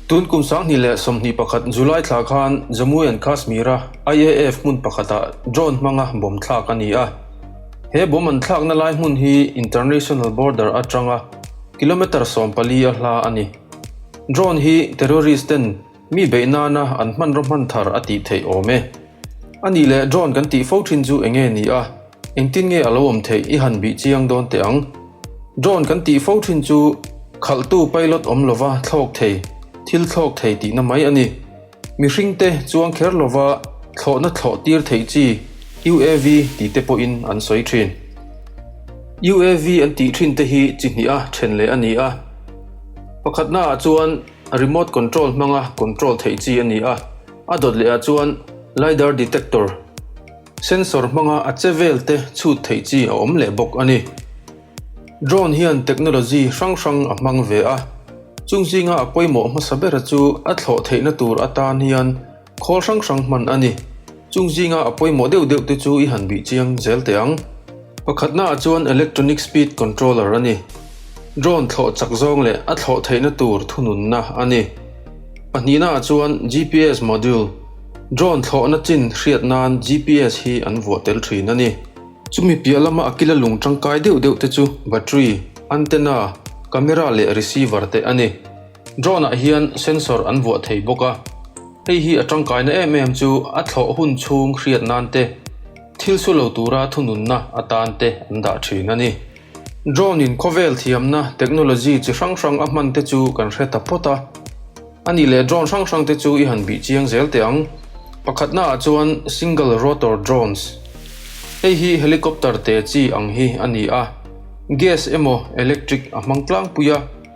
Tun kum sanghnih leh sawmhnih pakhat July thla khan Jammu and Kashmira IAF hmun pakhatah drone hmanga bawm thlak a ni a. He bawm an thlakna lai hmun hi international border atanga kilometre sawmpali a hla a ni. Drone hi terrorist ten Mi beih nana an hmanraw hman thar a tih theih awm e. A nih leh John kan tih fo thin chu eng nge ni a, engtin nge a lo awm theih i han bih chiang dawn teh ang. John kan tih fo thin chu khalhtu pilot awm lova thlawk thei, thil thlawk thei tihna mai a ni. Mihring te chuang kher lova thlawhna thlawh tir theih chi UAV ti te pawhin an sawi thin. UAV an tih thin te hi chi hnih a then leh a ni a. Pakhatnaah chuan. Remote control hmanga control theih chi a ni a, a dawt lehah chuan Lidar detector, sensor hmanga a che velte chhut theih chi a awm leh bawk a ni. Drone hian technology hrang hrang a hmang ve a, chung zinga a pawimawh hmasa bera chu a thlawh theihna tur atan hian, Khawl hrang hrang hman a ni. Chung zinga a pawimawh deuh deuh te chu i han bih chiang zel teh ang. Pakhatna ah chuan Electronic Speed Controller a ni. Drone thlawh chak zawng leh a thlawh theihna tur thununna a ni. Pahnihna ah chuan GPS Module. Drone thlawhna chin hriat nan GPS hi an vuah tel thin a ni. Chumi piah lama a kila lung tangkai deuh deuh te chu Battery, Antenna, Camera leh Receiver te a ni. Drone-ah hian sensor an vuah thei bawk a, hei hi a tangkaina em em chu a thlawh hun chhung hriat nan te, thil su lo tura thununna atan te an dah thin a ni. Drone-in khawvel thiamna technology chi hrang hrang a hman te chu kan hre ta phawt a, a nih leh drone hrang hrang te chu i han bih chiang zel teh ang. Pakhatna ah chuan single rotor drones, hei hi helicopter te chi ang hi a ni a, gas emaw electric a hmang tlangpui a,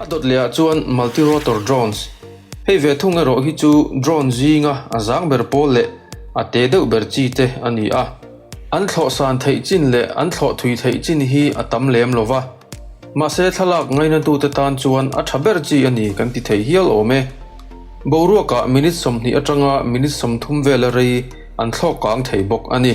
A dawt leh ah chuan multirotor drones. Hei ve thung erawh hi chu drone zinga a zang ber pawl leh a te deuh ber chi te a ni a. An thlawh san theih chin leh an thlawh thui theih chin hi a tam lem lo va. Mahse thlalak ngaihnatute tan chuan a tha ber chi a ni kan ti thei hial awm e. Boruaka minute sawmhnih atanga minute sawmthum vela rei an thlawk kang thei bawk a ni.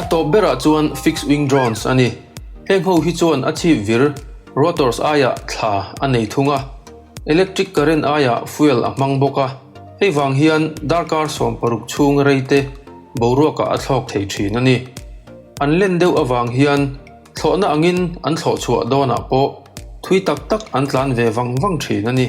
A tawp berah chuan fixed wing drones a ni. Heng ho hi chuan a chhip vir, rotors aiah thla a nei thung a, electric current aiah fuel a hmang bawk a, hei vang hian darkar sawm paruk chhung rei te boruakah a thlawk thei thin a ni. An len deuh avang hian, Thlawhna angin an thlawh chhuah dawnah pawh thui tak tak an tlan ve vang vang thin a ni.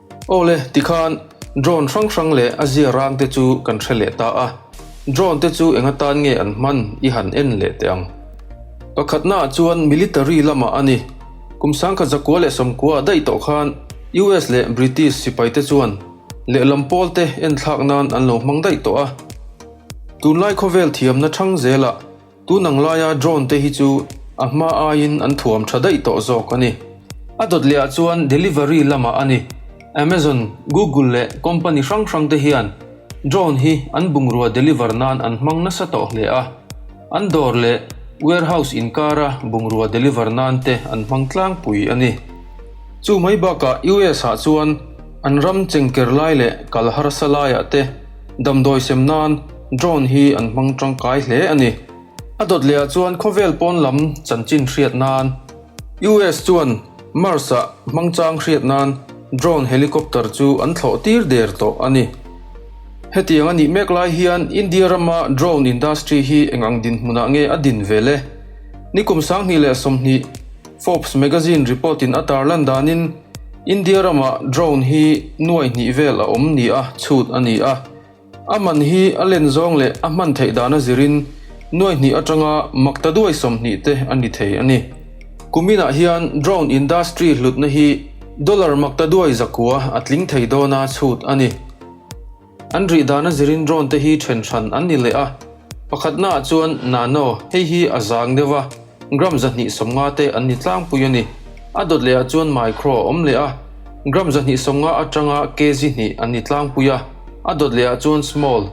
Aw le, tikhan drone hrang hrang leh a zia rang te chu kan hre leh ta a, drone te chu enga tan nge an hman i han en leh teh ang. Pakhatna ah chuan military lamah a ni. Kum sangkhat zakua leh sawmkua a daih tawh khan US leh British sipai te chuan lehlam pawl te en thlak nan an lo hmang daih tawh a. Tunlai khawvel thiamna thang zel ah Tun ang laia drone te hi chu a hma aiin an thuam tha daih tawh zawk a ni. A dawt lehah chuan delivery lamah a ni. Amazon, Google leh company hrang hrang te hian drone hi an bungrua deliver nan an hmang nasa tawh hle a. An dawr leh warehouse inkara bungrua deliver nan te an hmang tlangpui a ni. Chu mai bakah US-ah chuan an ram chengker lai leh kal harsa laiah te, Damdawi sem nan drone hi an hmang tangkai hle a ni. A dawt lehah chuan khawvel pawn lam chanchin hriat nan US chuan Mars-ah hmangchang hriat nan drone helicopter chu an thlawh tir der tawh a ni. Hetiang a nih mek lai hian India rama drone industry hi eng ang dinhmunah nge a din vel e? Ni kum sanghnih leh sawmhnih, Forbes Magazine report in a tar lan danin India ramah drone hi nuai hnih vel a awm nia chhut a ni a. A man hi a len zawng leh a hman theih dan a zirin nuai hnih atanga mak ta duai sawm hnih te a ni thei a ni. Kuminah hian drone industry hlutna hi dollar mak ta duai zakua a tling thei dawna chhut a ni. An rih dan a zirin drone te hi then hran an ni leh a. Pakhat naah chuan Nano, hei hi a zang deuh a, gram zahnih sawmnga te an ni tlangpui a ni. A dawt leh ah chuan micro a awm leh a, gram zahnih sawmnga atanga kg hnih an ni tlangpui a, a dawt leh ah chuan small,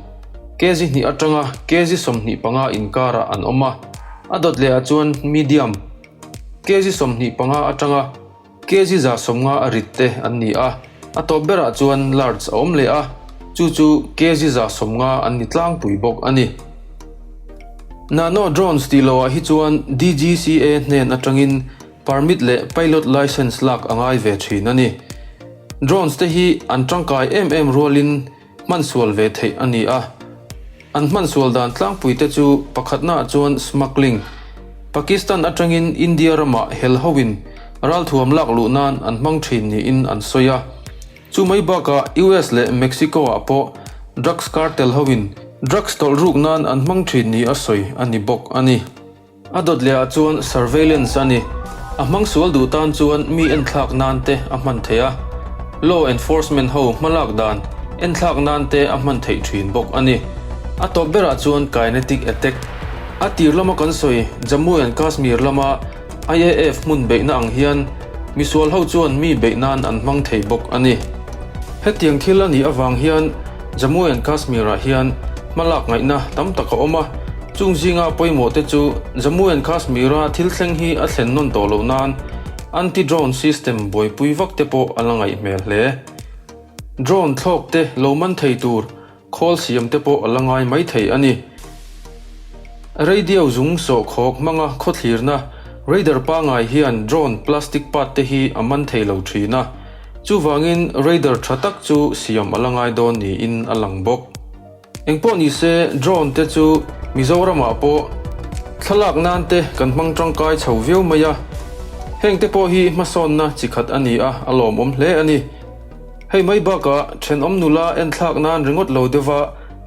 kg hnih atanga kg sawmhnih panga inkar ah an awm a, a dawt leh ah chuan medium, kg sawmhnih panga atanga. Kg za sawmnga a rit te an ni a, a tawp berah chuan large a awm leh a, chu chu kg za sawmnga an ni tlangpui bawk a ni. Nano Drones tih loh ah hi chuan DGCA hnen atangin permit leh pilot licence lak a ngai ve thin a ni. Drones te hi an tangkai em em rualin hmansual ve theih a ni a. An hmansual dan tlangpuite chu pakhatnaah chuan smuggling, Pakistan atangin India ramah hel hoin ralthuam lak luh nan an hmang thin niin an sawi a. Chu mai bakah US leh Mexico-ah pawh drugs cartel hoin drugs tawlh ruk nan an hmang thin ni a sawi a ni bawk a ni. A dawt lehah chuan surveillance a ni. A hmang sual duh tan chuan mi en thlak nan te a hman thei a. Law enforcement ho hmalak dan en thlak nan te a hman theih thin bawk a ni. A tawp berah chuan kinetic attack. A tir lama kan sawi, Jammu and Kashmir lama IAF hmun beihna ang hian misual ho chuan mi beih nan an hmang thei bawk a ni. Hetiang thil a nih avang hian, Jammu and Kashmir-ah hian hmalak ngaihna tam tak a awm a, chung zinga pawimawhte chu Jammu and Kashmir-a thil thleng hi a thlen nawn tawh loh nan anti-drone system buaipui vak te pawh a la ngaih hmel hle. Drone thlawk te lo man thei tur khawl siam te pawh a la ngai mai thei a ni. Radio zung sawh khawk hmanga khawthlirna radar pangai hian drone plastic part te hi a man thei lo thin a, Chuvangin Raider tha tak chu siam a la ngai dawn niin a lang bawk. Engpawh ni se Drone te chu Mizoramah pawh thlalak nan te kan hmang tangkai chho viau mai a, heng te pawh hi hmasawnna chi khat a ni a, a lawmawm hle a ni. Hei mai bakah thenawm nula enthlak nan ringawt lo deuhva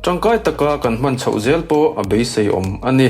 tangkai taka kan hman chhoh zel pawh a beiseiawm a ni.